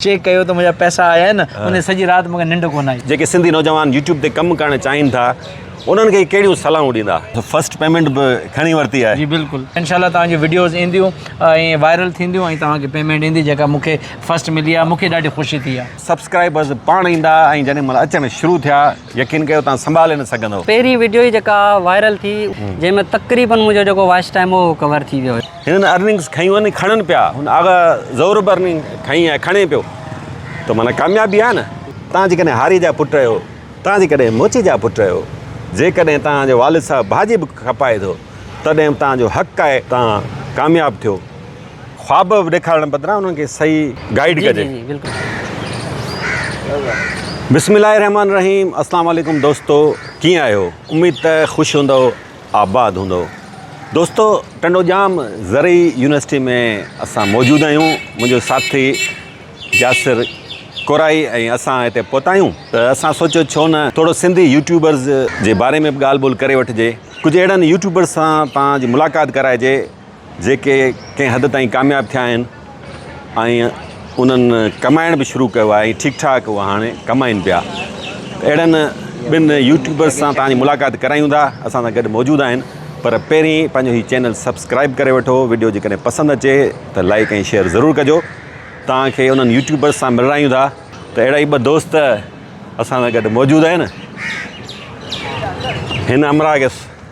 Check ڪيو ته منهنجا پئسا آيا آهن انهي سڄي رات مونکي ننڊ ڪونه آئي. جيڪي سنڌي نوجوان يوٽيوب تي ڪم ڪرڻ چاهين ٿا انهن کي ڪهڙيون صلاحون ڏيندا. فرسٽ پيمينٽ به کڻي ورتي آهي. جي بلڪل انشاء الله توهان جون وڊيوز اينديون ۽ وائرل ٿينديون ۽ توهان کي پيمينٽ ايندي جيڪا مون کي فرسٽ ملي آهي مون کي ڏاڍي خوشي ٿي آهي. سبسڪرائبرز پاڻ ايندا ۽ جڏهن مل اچڻ شروع ٿيا. يقين ڪيو توهان سنڀالي نه سگهندؤ. پهرين وڊيو ئي جيڪا وائرل ٿي جنهن ۾ تقريبن منهنجو جيڪو واچ ٽائيم هو اهو ڪور ٿي ويو. هنن ارننگس کنيون آهن کڻن پيا هن آغا ظهور به ارننگ کنئي آهي کڻي پيو ته معنيٰ ڪاميابي آهي نه. توهان جيڪڏهن هاري جا پٽ آهيو توهان جيڪڏهن موچي جا پٽ آهيو جيڪڏهن توهان جو والد صاحب ڀاڄي به کپائي ٿو تڏهن به توهان جو حق آهي توهان ڪامياب ٿيو. خواب ڏيکارڻ بدران انهن کي صحيح گائيڊ ڪجي. بسم الله الرحمٰن الرحيم اسلام عليڪم دوستو ڪيئن آهيو اميد ته خوش هوندؤ آباد هوندؤ دوستو ٽنڊوڄام زرعي يونيورسٽي ۾ اسان موجود آهيون منهنجو ساٿي ياسر ڪورائي ۽ اسان هتي پهتا آهيون ته اسان سوچيو ڇو نه ٿورو سنڌي يوٽيوبرز جي باري ۾ به ڳالهه ٻولهه ڪري وٺجي ڪجهه اهڙن يوٽيوبرز سان توهان جي ملاقات ڪرائجي جيڪي ڪنهن حد تائين ڪامياب ٿيا آهن ۽ انهن ڪمائڻ به شروع ڪيو آهي ۽ ٺيڪ ٺاڪ اهي هاڻي ڪمائين پيا ته اهڙن ٻن يوٽيوبرز سان توهان جي ملاقات ڪرايون ٿا اسان سان گڏ موجود آهن پر پهرين پنهنجو هي چينل سبسڪرائيب ڪري وٺو وڊيو جيڪڏهن پسند اچي ته لائيڪ ۽ شيئر ضرور ڪجو توهان کي انهن يوٽيوبرز سان ملرايون ٿا ته اهڙا ئي ٻه دوست اسان سان گڏ موجود آهن هن همراهه کي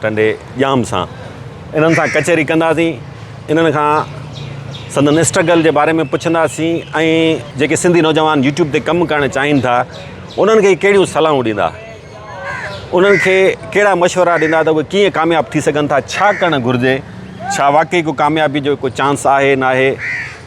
ٽنڊي ڄام سان انهن سان ڪچهري ڪنداسين، انهن کان سندن اسٽرگل جي باري ۾ پڇنداسين ۽ جيڪي سنڌي نوجوان يوٽيوب تي ڪم ڪرڻ چاهين ٿا انهن کي ڪهڙيون صلاحون ڏيندا، انهن کي ڪهڙا مشورا ڏيندا ته اهي ڪيئن ڪامياب ٿي سگهن ٿا، ڇا ڪرڻ گهرجي، ڇا واقعي ڪو ڪاميابي جو ڪو چانس آهي ناهي.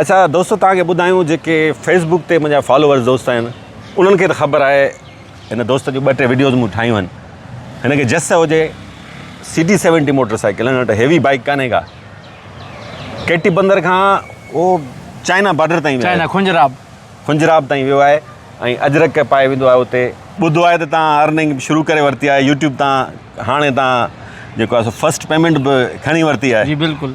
اچا دوستو توهان کي ٻڌايون جيڪي فيس بڪ تي منهنجا فالوورز دوست آهن انهن کي ته خبر آهي هن دوست جون ٻه ٽي وڊيوز مون ٺاهيون آهن هن کي جس هجي C T seventy motorcycle هن وٽ هيوي بائيڪ ڪانهي ڪا ڪي ٽي بندر کان هو چائنا بارڊر تائين ويو چائنا خنجراب خنجراب تائين ويو آهي ۽ اجرڪ پائي ويندو آهي اتي ٻڌو آهي ته تان ارننگ شروع ڪري ورتي آهي يوٽيوب تان هاڻي تان جيڪو آهي سو فرسٽ پيمنٽ به کڻي ورتي آهي جي بلڪل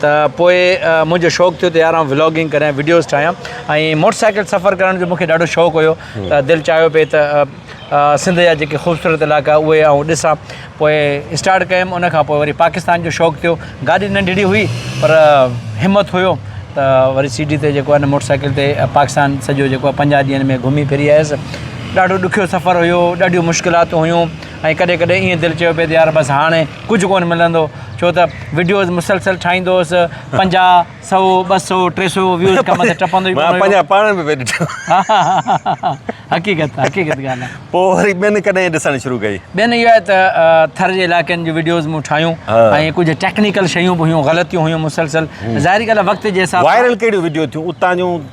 ته پوء منهنجو شوق ٿيو ته يار آئون ولاگنگ ڪريان ۽ وڊيوز ٺاهيان ۽ موٽر سائيڪل سفر ڪرڻ جو مون کي ڏاڍو شوق هيو ته دل چاهيو پئي ته سنڌ جا جيڪي خوبصورت علائقا اهي آئون ڏسان پوء اسٽارٽ ڪيم ان کان پوء وري پاڪستان جو شوق ٿيو گاڏي ننڍڙي هئي پر همت هيو ته وري سي ڊي تي جيڪو آهي نه موٽر سائيڪل تي پاڪستان سڄو جيڪو آهي پنجاهه ڏينهن ۾ گهمي ڦري آيس ڏاڍو ڏکيو سفر هيو ڏاڍيون مشڪلاتون هيون ۽ ڪڏهن ڪڏهن ايئن دل چيو پئي ته يار بس هاڻي ڪجهه ڪونه ملندو ڇو ته وڊيوز مسلسل ٺاهيندو هوس پنجاهه سؤ ٻه سؤ ٽي سؤ ويوز کان مٿي ٽپندو ئي ڪونه هيو پاڻ به پئي ڏٺو حقيقت حقيقت ڳالهه آهي پوء وري ٻين ڪڏهن ڏسڻ شروع ڪئي ٻين اهو آهي ته ٿر جي علائقن جون وڊيوز مون ٺاهيون ۽ ڪجهه ٽيڪنيڪل شيون به هيون غلطيون هيون مسلسل ظاهري ڳالهه آهي وقت جي حساب سان وائرل ڪهڙيون وڊيو ٿيون اتان جون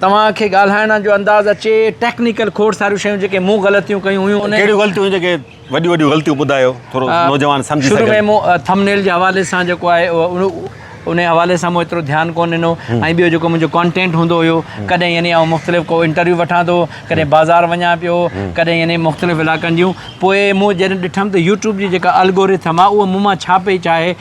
توهان کي ڳالهائڻ جو انداز اچي ٽيڪنيڪل کوڙ ساريون شيون جيڪي مون غلطيون ڪيون هيون انهن ڪهڙيون غلطيون هيون جيڪي وڏيون وڏيون غلطيون ٻڌايو ٿورو نوجوان سمجهي سگهن. شروع ۾ مون ٿم نيل جي حوالي سان جيڪو آهي انهي حوالي سان مون ايترو ڌيان ڪون ڏنو ۽ ٻيو جيڪو منهنجو ڪانٽينٽ هوندو هيو ڪڏهن يعني آئون مختلف ڪو انٽرويو وٺان ٿو ڪڏهن بازار وڃان پيو ڪڏهن يعني مختلف علائقن جون پوء مون جڏهن ڏٺم ته يوٽيوب جي جيڪا الگوريٿم آهي اهو مون مان ڇا پئي چاهي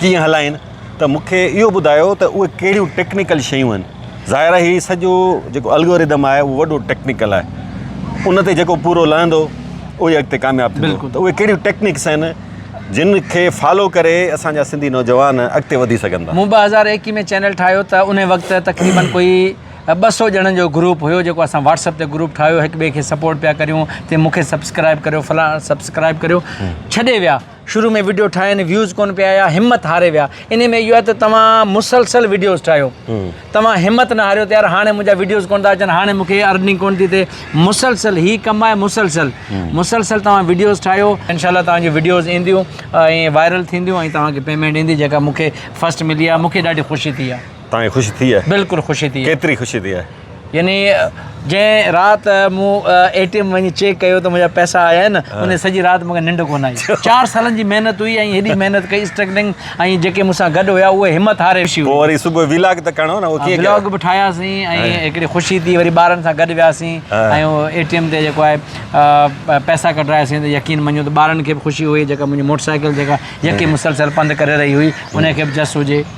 ڪيئن هلائين ته مون کي اهو ٻڌايو ته اهي ڪهڙيون ٽيڪنيڪل شيون آهن ظاهر آهي هي سڄو جيڪو الگوريدم آهي اهو وڏو ٽيڪنيڪل آهي ان تي جيڪو پورو لهندو اهو ئي اڳتي ڪامياب ٿيندو ته اهي ڪهڙيون ٽيڪنيڪس آهن جن کي فالو ڪري اسان جا سنڌي نوجوان اڳتي وڌي سگهن ٿا مون ٻه هزار ايڪيهه ۾ چينل ٺاهيو ته ان وقت تقريبن ڪوئي ٻه سو ڄڻن جو گروپ هيو جيڪو اسان واٽسپ تي گروپ ٺاهيو هڪ ٻئي کي سپورٽ پيا ڪريون تي مون کي سبسڪرائب ڪريو فلاڻ سبسڪرائب ڪريو ڇڏي ويا شروع ۾ وڊيو ٺاهين ويوز ڪون پيا آيا همت هاري ويا انهي ۾ اهو آهي ته توهان مسلسل وڊيوز ٺاهيو توهان همت نه هاريو ته يار هاڻي منهنجا وڊيوز ڪون ٿا اچن هاڻي مون کي ارننگ ڪون ٿي ٿئي مسلسل هي ڪم آهي مسلسل مسلسل توهان وڊيوز ٺاهيو انشاء الله توهان جون وڊيوز اينديون ۽ وائرل ٿينديون ۽ توهان کي پيمنٽ ايندي جيڪا مون کي فسٽ ملي آهي مون کي ڏاڍي خوشي ٿي آهي تائين خوش ٿي آهي. بلڪل خوش ٿي. ڪيتري خوش ٿي آهي. يعني جنهن رات مون اي ٽي ايم وڃي چيڪ ڪيو ته منهنجا پئسا آيا آهن ان سڄي رات مونکي ننڊ ڪونه آئي چار سالن جي محنت هئي ۽ هيڏي محنت ڪئي اسٽرگلنگ ۽ جيڪي مون سان گڏ هيا اهي همت هاري خوشي هئي پوء وري صبح ويلاگ ته ڪرڻو نه ڪيئن ويلاگ به ٺاهياسين ۽ هڪڙي خوشي ٿي وري ٻارن سان گڏ وياسين ۽ اي ٽي ايم تي جيڪو آهي پئسا ڪڍراياسين ته يقين مڃو ته ٻارن کي به خوشي هئي جيڪا منهنجي موٽر سائيڪل جيڪا يڪي مسلسل پنڌ ڪري رهي هئي ان کي به جس هجي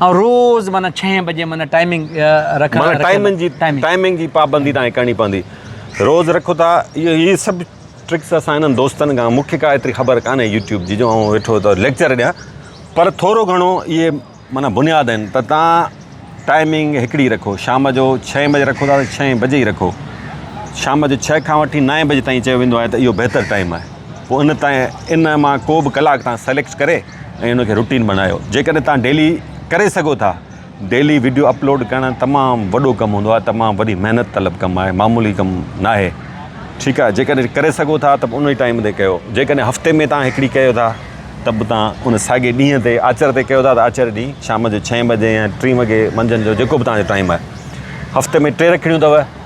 آئون روز معنيٰ ڇهين بجي معنيٰ ٽائمنگ رکان معنيٰ ٽائمنگ جي ٽائمنگ جي پابندي تان ڪرڻي پوندي روز رکو ٿا اهو هي سڀ ٽرڪس اسان هنن دوستن کان مونکي ڪا ايتري خبر ڪانهي يوٽيوب جي جو آئون ويٺو ته ليڪچر ڏيان پر ٿورو گهڻو اهي معنيٰ بنياد آهن ته تان ٽائمنگ هڪڙي رکو شام جو ڇهين بجي رکو ٿا ته ڇهين بجي ئي رکو شام جو ڇهه کان وٺي نائين بجي تائين چيو ويندو آهي ته اهو بهتر ٽائم آهي پوء ان تائين ان مان ڪو به ڪلاڪ تان سليڪٽ ڪري ۽ ان کي روٽين بڻايو جيڪڏهن توهان ڊيلي ڪري سگهو ٿا ڊيلي وڊيو اپلوڊ ڪرڻ تمام وڏو ڪم هوندو آهي تمام وڏي محنت طلب ڪم آهي معمولي ڪم ناهي ٺيڪ آهي جيڪڏهن ڪري سگهو ٿا ته ان ٽائيم تي ڪيو جيڪڏهن هفتي ۾ توهان هڪڙي ڪيو ٿا ته به توهان ان ساڳي ڏينهن تي آچر تي ڪيو ٿا ته آچر ڏينهن شام جو ڇهين بجي يا ٽي وڳي منجهند جو جيڪو به توهان جو ٽائيم آهي هفتي ۾ ٽي رکڙيون اٿو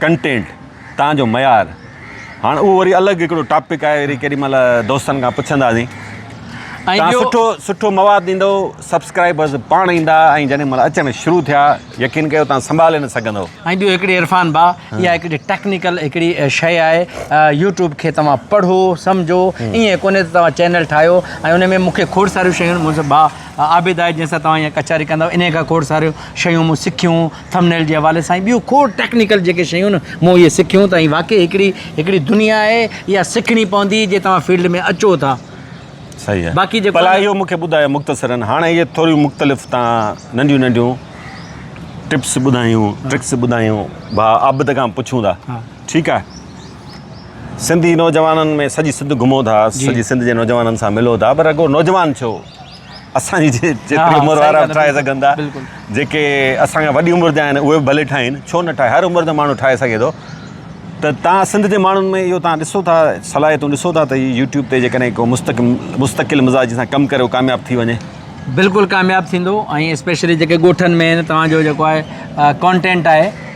ڪنٽينٽ تان جو معيار هاڻ اهو وري الڳ هڪڙو ٽاپڪ آهي وري ڪيڏي مهل دوستن کان پڇنداسين تان سٺو سٺو مواد ڏيندو سبسڪرائبرز پاڻ ايندا ۽ جڏهن مهل اچڻ شروع ٿيا يقين ڪيو تان سنڀالي نه سگهندو ۽ ٻيو هڪڙي عرفان با يا هڪڙي ٽيڪنيڪل هڪڙي شيء آهي يوٽيوب کي توهان پڙهو سمجهو ايئن ڪونهي ته توهان چينل ٺاهيو ۽ ان ۾ مون کي کوڙ ساريون شيون منهنجو با عابد آهي جنهن سان توهان هيئن ڪچهري ڪندا انهي کان کوڙ ساريون شيون مون سکيون ٿمنيل جي حوالي سان ۽ ٻيون کوڙ ٽيڪنيڪل جيڪي شيون مون اهي سکيون ته هي واقعي هڪڙي هڪڙي دنيا آهي اها سکڻي پوندي جي توهان فيلڊ ۾ اچو ٿا. صحيح آهي باقي جيڪو ڀلا اهو مونکي ٻڌايو مختصرن هاڻ اهي ٿوريون مختلف تان ننڍيون ننڍيون ٽپس ٻڌايون ٽرڪس ٻڌايون ڀا عابد کان پڇون ٿا ٺيڪ آهي سنڌي نوجوانن ۾ سڄي سنڌ گهمو ٿا سڄي سنڌ جي نوجوانن سان ملو ٿا پر رڳو نوجوان ڇو اسان جي جيتري عمر وارا به ٺاهي سگهن ٿا جيڪي اسان کان وڏي عمر جا آهن اهي به ڀلي ٺاهين ڇو نه ٺاهي هر عمر جو ماڻهو ٺاهي سگهي ٿو ته تان سنڌ جي ماڻهن ۾ اهو تان ڏسو ٿا صلاحيتون ڏسو ٿا ته يوٽيوب تي جيڪڏهن ڪو مستقم مستقل مزاجي سان ڪم ڪري ڪامياب ٿي وڃي بلڪل ڪامياب ٿيندو ۽ اسپيشلي جيڪي ڳوٺن ۾ توهان جو جيڪو آهي ڪانٽينٽ آهي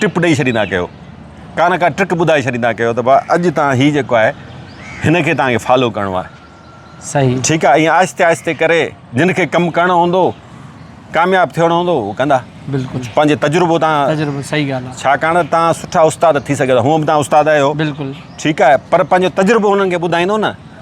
ٽپ ڏئي ڇڏيندا ڪيو ڪا نه ڪا ٽرڪ ٻڌائي ڇڏيندا ڪيو ته ڀا اڄ تان هي جيڪو آهي هن کي تان کي فالو ڪرڻو آهي صحيح ٺيڪ آهي ائين آهستي آهستي ڪري جن کي ڪم ڪرڻو هوندو ڪامياب ٿيڻو هوندو هو ڪندا بلڪل پنهنجي تجربو تان تجربو صحيح ڳالهه آهي ڇاڪاڻ تان سٺا استاد ٿي سگهيا هونء به تان استاد آهيو بلڪل ٺيڪ آهي پر پنهنجو تجربو هنن کي ٻڌائيندو نه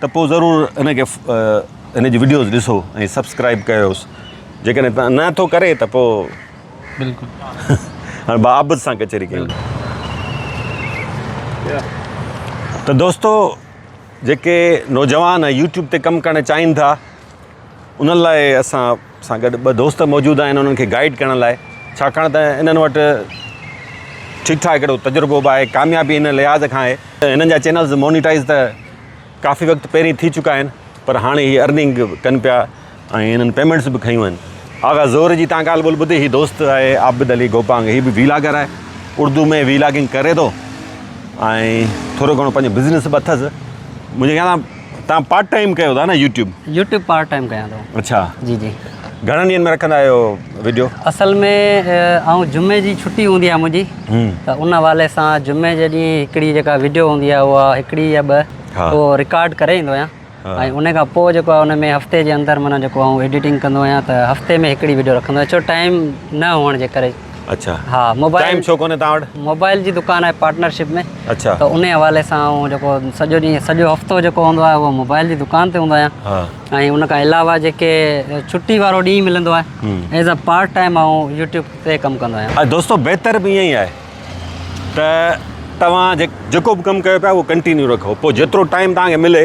ته پوء ضرور هن کي هن جي وڊيوز ڏسو ۽ سبسڪرائب ڪيوس جيڪڏهن تان نه ٿو ڪري ته پوء بلڪل هاڻي با عابد سان ڪچهري ڪيون ته دوستو جيڪي نوجوان يوٽيوب تي ڪم ڪرڻ چاهين ٿا انهن لاء اسان سان گڏ ٻه دوست موجود آهن انهن کي گائيڊ ڪرڻ لاء ڇاڪاڻ ته انهن وٽ ٺيڪ ٺاڪ هڪڙو تجربو به آهي ڪاميابي ان لحاظ کان آهي ته انهن جا چينلز مونيٽائز ته ڪافي وقت پهرين ٿي چڪا آهن پر هاڻي هي ارننگ به ڪن پيا ۽ هنن پيمينٽس به کنيون آهن آغا زور جي تان ڳالهه ٻولهه ٻڌي هي دوست آهي عابد علي گوپانگ هي به ويلاگر آهي اردو ۾ ويلاگنگ ڪري ٿو ۽ ٿورو گهڻو پنهنجو بزنس به اٿس منهنجي خيال ۾ تان پارٽ ٽائم ڪيو ٿا نه يوٽيوب يوٽيوب پارٽ ٽائم ڪيان ٿو اچھا جي جي گھڻن ڏينھن ۾ رکندا آھيو ويڊيو اصل ۾ آئون جمعي جي چھٽي ھوندي آ منھنجي ته ان حوالي سان جمعي جي ڏينھن ھڪڙي جيڪا ويڊيو ھوندي آ اھا ھڪڙي يا ٻه اھو رڪارڊ ڪري ايندو آھيان ۽ ان کان پوء جيڪو آ ان ۾ ھفتي جي اندر معنيٰ جيڪو آئون ايڊيٽنگ ڪندو آھيان ته ھفتي ۾ ھڪڙي ويڊيو رکندو آھيان ڇو ٽائم نه ھئڻ جي ڪري اچھا ها موبائل ٽائيم ڇو ڪونهي توهان وٽ موبائل جي دڪان آهي پارٽنرشپ ۾ اچھا ته انهي حوالي سان آئون جيڪو سڄو ڏينهن سڄو هفتو جيڪو هوندو آهي اهو موبائل جي دڪان تي هوندو آهيان ها ۽ ان کان علاوه جيڪي ڇٽي وارو ڏينهن ملندو آهي ايز ا پارٽ ٽائيم آئون يوٽيوب تي ڪم ڪندو آهيان ۽ دوستو بهتر به ائين ئي آهي ته توهان جيڪو به ڪم ڪيو پيا اهو ڪنٽينيو رکو پوء جيترو ٽائيم توهان کي ملي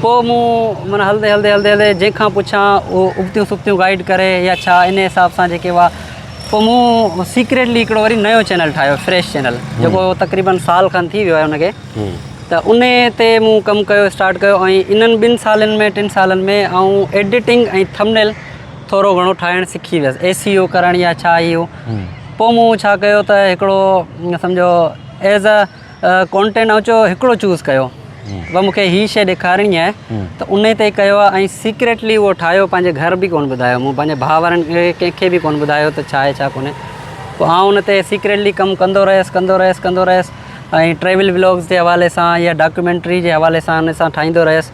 پوء مون معنيٰ هلندي هلندي هلندي هلندي جنهن کان پڇان اهو ابتيون سبتيون گائيڊ ڪري يا ڇا ان حساب سان جيڪي هئا پوء مون سيڪريٽلي هڪڙو وري نيو چينل ٺاهيو فريش چينل جيڪو تقريبن سال کن ٿي ويو آهي ان کي ته ان تي مون ڪم ڪيو اسٽارٽ ڪيو ۽ انهن ٻن سالن ۾ ٽن سالن ۾ آئون ايڊيٽنگ ۽ ٿمنيل ٿورو گهڻو ٺاهڻ سکي ويس اي سي او ڪرڻ يا ڇا هي هو پوء مون ڇا ڪيو ته هڪڙو سمجهو ايز اي ڪونٽينٽ آئون چيو هڪڙو چوز ڪيو ۽ مونکي هي شئي ڏيکارڻي آهي ته انهي تي ڪيو آهي ۽ سيڪريٽلي اهو ٺاهيو پنهنجي گهر به ڪونه ٻڌايو مون پنهنجي ڀاء وارن کي ڪنهن کي به ڪونه ٻڌايو ته ڇا آهي ڇا ڪونهي پوء آئون ان تي سيڪريٽلي ڪم ڪندو رهيس ڪندو رهيس ڪندو رهيس ۽ ٽريول بلاگز جي حوالي سان يا ڊاڪيومينٽري جي حوالي سان ان سان ٺاهيندو رهيس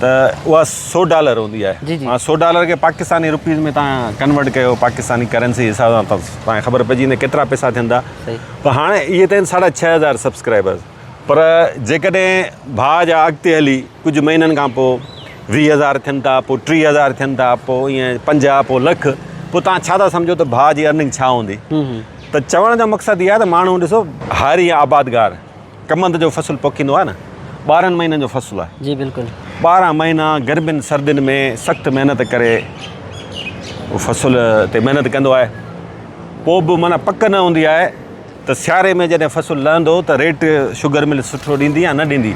ته اها سو ڊالر هوندي آهي جي جي هاڻ سو ڊالر کي پاڪستاني روپيز ۾ تان ڪنورٽ ڪيو پاڪستاني ڪرنسي حساب سان تان کي خبر پئجي ويندي ڪيترا پئسا ٿيندا پر هاڻ اهي ته آهن ساڍا ڇهه هزار سبسڪرائبر پر جيڪڏهن ڀاء جا اڳتي هلي ڪجهه مهينن کان پوء ويهه هزار ٿين ٿا پوء ٽيهه هزار ٿين ٿا پوء ائين پنجاهه پوء لک پوء تان ڇا ٿا سمجهو ته ڀاء جي ارننگ ڇا هوندي ته چوڻ جو مقصد اهو آهي ته ماڻهو ڏسو هاري آبادگار ڪمند جو فصل پوکيندو آهي نه ٻارهن مهينن جو فصل آهي جي بلڪل ٻارهن مهينا گرمين سردين ۾ سخت محنت ڪري فصل تي محنت ڪندو آهي پوء به معنی پڪ نه هوندي آهي ته سياري ۾ جڏهن فصل لهندو ته ريٽ شوگر مل سٺو ڏيندي يا نه ڏيندي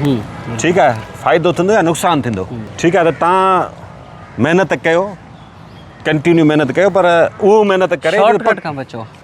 ٺيڪ آهي فائدو ٿيندو يا نقصان ٿيندو ٺيڪ آهي ته تان محنت ڪيو ڪنٽينيو محنت ڪيو پر اهو محنت ڪري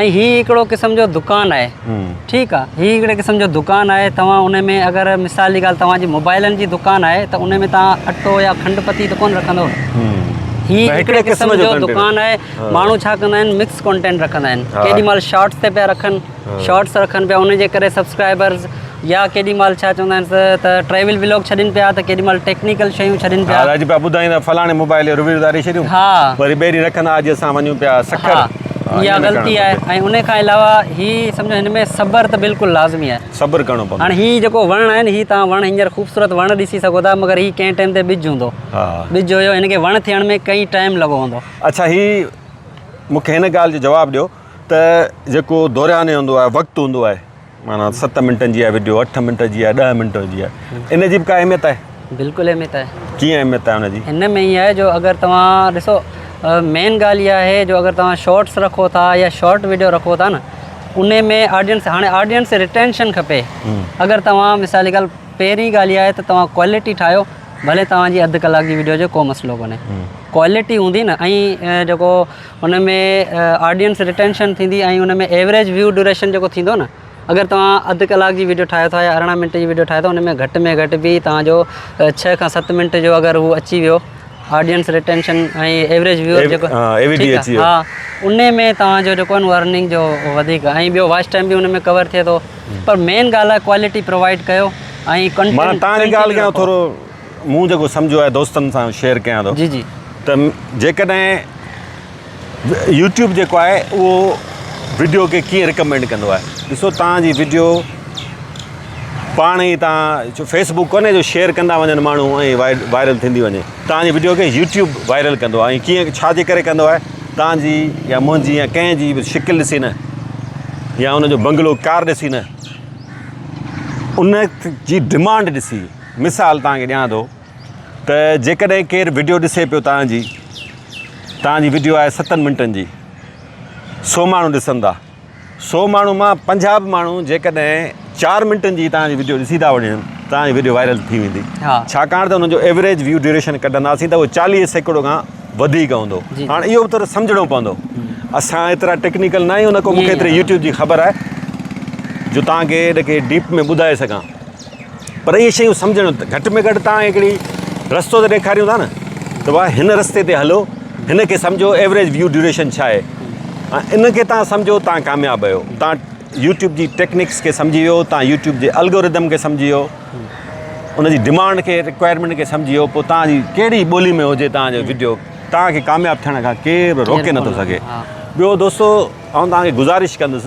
۽ هي هڪڙو قسم جو دڪان آهي ٺيڪ آهي هي هڪڙي قسم جو دڪان آهي توهان ان ۾ اگر مثال جي ڳالهه توهان جي موبائلن جي دڪان آهي ته ان ۾ توهان اٽو يا کنڊ پتي ته ڪونه رکندا هي هڪڙي قسم جو دڪان آهي ماڻهو ڇا ڪندا آهن مڪس ڪانٽينٽ رکندا آهن ڪيڏي مال شارٽس تي پيا رکن شارٽس رکن پيا ان جي ڪري سبسڪرائبرز يا ڪيڏي مهل ڇا چوندا آهن سر ته ٽريول ولاگ ڇڏين پيا ته ڪيڏي مهل ٽيڪنيڪل شيون ڇڏين پيا. ها اڄ پيا ٻڌائين ته فلاڻي موبائل جو ريويو اتاري ڇڏيون ها وري ٻيري رکن اڄ اسان وڃون پيا سکر ها اها غلطي آهي ۽ ان کان علاوه هي سمجهو هن ۾ صبر ته بلڪل لازمي آهي صبر ڪرڻو پوندو هاڻي هي جيڪو وڻ آهي نه هي توهان وڻ هينئر خوبصورت وڻ ڏسي سگهو ٿا مگر هي ڪنهن ٽائيم تي ٻج هوندو ها ٻج هيو هن کي وڻ ٿيڻ ۾ ڪئين ٽائيم لڳو هوندو اڇا هي مونکي هن ڳالهه جو جواب ڏيو ته جيڪو دورياني هوندو آهي وقت هوندو آهي معنيٰ ست منٽن جي آهي وڊيو اٺ منٽ جي آهي ڏهه منٽ جي آهي ان جي به ڪا اهميت آهي بلڪل اهميت آهي ڪيئن اهميت آهي ان جي هن ۾ هي آهي جو اگر توهان ڏسو مين ڳالهه اها آهي جو اگر توهان شارٽس رکو ٿا يا شارٽ وڊيو رکو ٿا نه ان ۾ آڊينس هاڻي آڊينس ريٽينشن کپي اگر توهان مثال جي ڳالهه پهرين ڳالهه اها آهي ته توهان ڪوالٽي ٺاهيو ڀلي توهان جي اڌ ڪلاڪ جي وڊيو هجي ڪو مسئلو ڪونهي ڪوالٽي هوندي نه ۽ جيڪو ان ۾ آڊينس رٽينشن ٿيندي ۽ ان ۾ ايوريج ويو ڊيوريشن جيڪو ٿيندو نه اگر توهان اڌ ڪلاڪ جي ويڊيو ٺاهيو ٿا يا ارڙهن منٽ جي ويڊيو ٺاهيو ٿا ان ۾ گهٽ ۾ گهٽ به توهان جو ڇهه کان ست منٽ جو اگر هو اچي ويو آڊينس رٽينشن ۽ ايوريج ويو جيڪو ٺيڪ آهي ها ان ۾ توهان جو جيڪو آهن ارننگ جو وڌيڪ ۽ ٻيو واچ ٽائيم به ان ۾ ڪور ٿئي ٿو پر مين ڳالهه آهي ڪوالٽي پرووائيڊ ڪيو ۽ ڪنٽينٽ مون جيڪو سمجهيو آهي دوستن سان شيئر ڪيان ٿو جي جي ته جيڪڏهن يوٽيوب جيڪو آهي اهو وڊيو کي ڪيئن رڪمينڊ ڪندو آهي ڏسو تان جي وڊيو پاڻ ئي تان جو فيسبوڪ ڪونهي جو شيئر ڪندا وڃن ماڻهو ۽ وائرل ٿيندي وڃي تان جي وڊيو کي يوٽيوب وائرل ڪندو آهي ۽ ڪيئن ڇا جي ڪري ڪندو آهي تان جي يا منهنجي يا ڪنهن جي به شڪل ڏسي نه يا ان جو بنگلو ڪار ڏسي نه ان جي ڊمانڊ ڏسي مثال توهان کي ڏيان ٿو ته جيڪڏهن ڪير وڊيو ڏسي پيو توهان جي توهان جي وڊيو آهي ستن منٽن جي سو ماڻهو ڏسن ٿا سو ماڻهو مان پنجاهه به ماڻهو جيڪڏهن چار منٽن جي توهان جي وڊيو ڏسي ٿا وڃن توهان جي وڊيو وائرل ٿي ويندي ڇاڪاڻ ته ان جو ايوریج ويو ڊيوريشن ڪڍنداسين ته اهو چاليهه سيڪڙو کان وڌيڪ هوندو هاڻي اهو به سمجهڻو پوندو اسان ايترا ٽيڪنيڪل ناهيون نه ڪو مونکي ايتري يوٽيوب جي خبر آهي جو توهان کي ان کي ڊيپ ۾ ٻڌائي سگهان پر اهي شيون سمجهڻ گهٽ ۾ گهٽ توهان هڪڙي رستو ته ڏيکاريون ٿا نه ته ڀاء هن رستي تي هلو هن کي سمجهو ايوريج ويو ڊيوريشن ڇا آهي ۽ ان کي توهان سمجهو توهان ڪامياب آهيو توهان يوٽيوب جي ٽيڪنڪس کي سمجهي ويو توهان يوٽيوب جي الگوريدم کي سمجهي ويو ان جي ڊمانڊ کي رڪوائرمينٽ کي سمجهي ويو پوء توهان جي ڪهڙي ٻولي ۾ هجي توهان جو ويڊيو توهان کي ڪامياب ٿيڻ کان ڪير به روڪي نٿو سگهي ٻيو دوستو آئون توهان کي گذارش ڪندس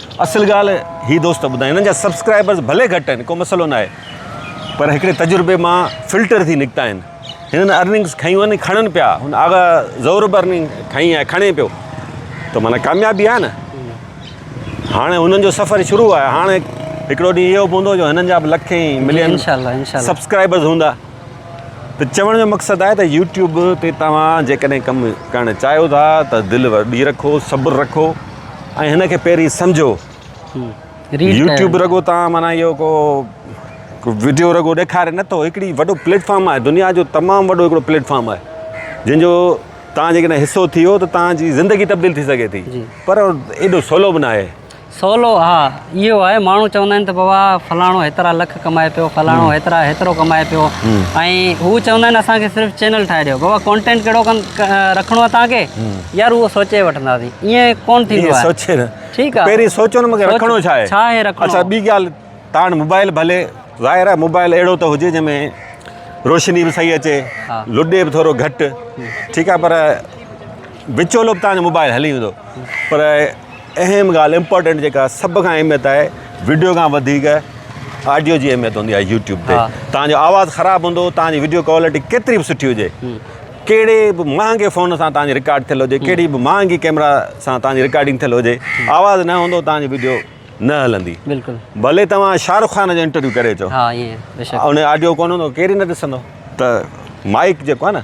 اصل ڳالهه هي دوست ٻڌائين انهن جا سبسڪرائبرز ڀلي گهٽ آهن ڪو مسئلو نه آهي پر هڪڙي تجربي مان فلٽر ٿي نڪتا آهن هنن ارننگز کنيون آهن کڻن پيا هن آغا زورب ارننگ کنئي آهي کڻي پيو ته معنيٰ ڪاميابي آهي نه هاڻي هنن جو سفر شروع آهي هاڻي هڪڙو ڏينهن اهو به هوندو جو هنن جا به لکين ملين سبسڪرائبرز هوندا ته چوڻ جو مقصد آهي ته يوٽيوب تي توهان جيڪڏهن ڪم ڪرڻ چاهيو ٿا ته دل وڏي رکو صبر رکو ۽ هن کي پهرين سمجهو يوٽيوب رڳو توهان معنيٰ اهو ڪو وڊيو رڳو ڏيکاري نه ٿو هڪڙي وڏو پليٽفارم آهي دنيا جو تمام وڏو هڪڙو پليٽفارم آهي جنهن جو توهان جيڪڏهن حصو ٿي ويو ته توهان جي زندگي تبديل ٿي سگهي ٿي پر ايڏو سولو به ناهي سولو، ها اهو آهي، ماڻهو چوندا آهن ته بابا فلاڻو هيترا لک ڪمائي پيو، فلاڻو هيترا هيترو ڪمائي پيو ۽ هو چوندا آهن اسان کي صرف چينل ٺاهي ڏيو، بابا ڪونٽينٽ ڪهڙو رکڻو آهي توهان کي، يار اهو سوچي وٺنداسين، ائين ڪونه ٿيندو آهي. ائين سوچي نه، ٺيڪ آهي، پهرين سوچو نه مونکي رکڻو ڇا آهي، ڇا آهي رکڻو، اڇا ٻي ڳالهه تان وٽ موبائل به هلي، ظاهر آهي موبائل اهڙو ته هجي جنهن ۾ روشني به صحيح اچي، لڏي به ٿورو گهٽ، ٺيڪ آهي پر وچولو به تان جو موبائل هلي ويندو پر اهم ڳالهه امپورٽنٽ جيڪا سڀ کان اهميت آهي وڊيو کان وڌيڪ آڊيو جي اهميت هوندي آهي يوٽيوب تي توهان جو آواز خراب هوندو توهان جي وڊيو ڪوالٽي ڪيتري به سٺي هجي ڪهڙي به مهانگي فون سان توهان جي رڪارڊ ٿيل هجي ڪهڙي به مهانگي ڪيمرا سان توهان جي رڪارڊنگ ٿيل هجي آواز نه هوندو توهان جي وڊيو نه هلندي ڀلي توهان شاهه رخ خان جو انٽرويو ڪري اچو ان آڊيو ڪونه هوندو ڪير ئي نه ڏسندو ته مائڪ جيڪو آهي نه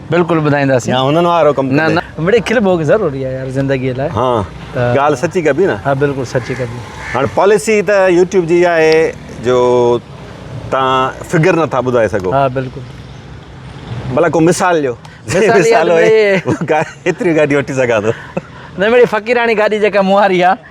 بلڪل ٻڌائينداسين يا هنن وارو ڪم ڪندي نه نه مڙي کل ڀوڳ ضروري آهي يار زندگي لاء ها ڳالهه سچي ڪبي نه ها بلڪل سچي ڪبي هاڻ پاليسي ته يوٽيوب جي اها آهي جو تان فگر نه ٿا ٻڌائي سگهو ها بلڪل بلا ڪو مثال ڏيو مثال هي هتري گاڏي وٺي سگهان ٿو نه مڙي فقيراڻي گاڏي جيڪا مون واري آهي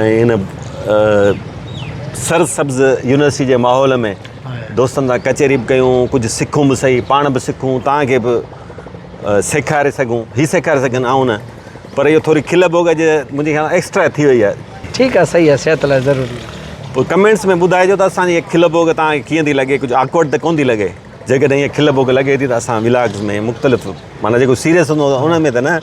۽ ان سر سبز يونيورسٽي جي ماحول ۾ دوستن سان ڪچهري به ڪيون ڪجهه سکون به سهي پاڻ به سکون توهان کي به سيکاري سگهون هي سيکاري سگهن آئون نه پر اهو ٿوري کل ڀوڳ اڄ منهنجي خيال ۾ ايڪسٽرا ٿي وئي آهي ٺيڪ آهي سهي آهي صحت لاء ضروري آهي پوء ڪمينٽس ۾ ٻڌائجو ته اسان جي کل ڀوڳ توهان کي ڪيئن ٿي لڳي ڪجهه آڪورڊ ته ڪونه ٿي لڳي جيڪڏهن ائين کل ڀوڳ لڳي ٿي ته اسان ولاگز ۾ مختلف معنيٰ جيڪو سيريس هوندو ان ۾ ته نه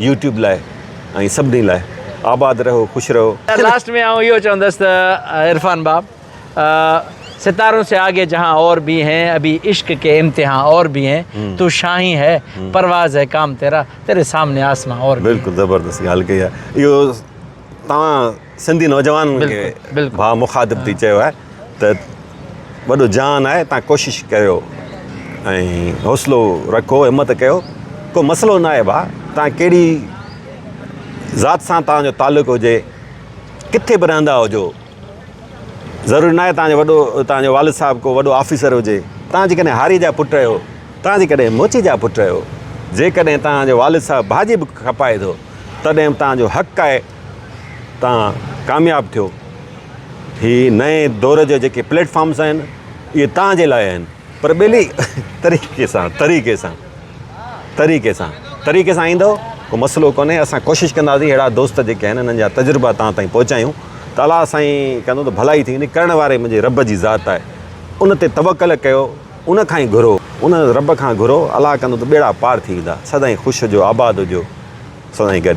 يوٽيوب لاء ۽ سڀني لاء آباد رهو خوش رهو. يار لاسٽ ۾ آئون اهو چوندس ته عرفان باب ستارون سي آگي جهان اور ڀي هين ابهي عشق ڪي امتحان اور ڀي هين تو شاهين هي پرواز هي ڪام تيرا تيري سامني آسمان اور ڀي هين. بلڪل زبردست ڳالهه ڪئي آهي اهو توهان سنڌي نوجوان کي ڀا مخاطب ٿي چيو آهي ته وڏو جهان آهي تان ڪوشش ڪريو ۽ حوصلو رکو همت ڪيو ڪو مسئلو ناهي ڀا تان ڪهڙي ذات سان تان جو تعلق هجي ڪٿي به رهندا هجو ضروري ناهي تان جو وڏو تان جو والد صاحب ڪو وڏو آفيسر هجي تان جيڪڏهن هاري جا پٽ آهيو تان جيڪڏهن موچي جا پٽ آهيو جيڪڏهن تان جو والد صاحب ڀاڄي به کپائي ٿو تڏهن تان جو حق آهي تان ڪامياب ٿيو. هي نئين دور جا جيڪي پليٽ فارمس آهن اهي تان جي لاء آهن پر ٻيلي طريقي سان طريقي سان طريقي سان طريقي سان ايندو ڪو مسئلو ڪونهي اسان ڪوشش ڪنداسين اهڙا دوست جيڪي آهن انهن جا تجربا تان تائين پهچايون ته الله سائين ڪندو ته ڀلائي ٿيندي ڪرڻ واري منهنجي رب جي ذات آهي ان تي توڪل ڪيو ان کان ئي گهرو، ان رب کان گهرو، الله ڪندو ته ٻيڙا پار ٿي ويندا، سدائين خوش هجو، آباد هجو، سدائين گڏ.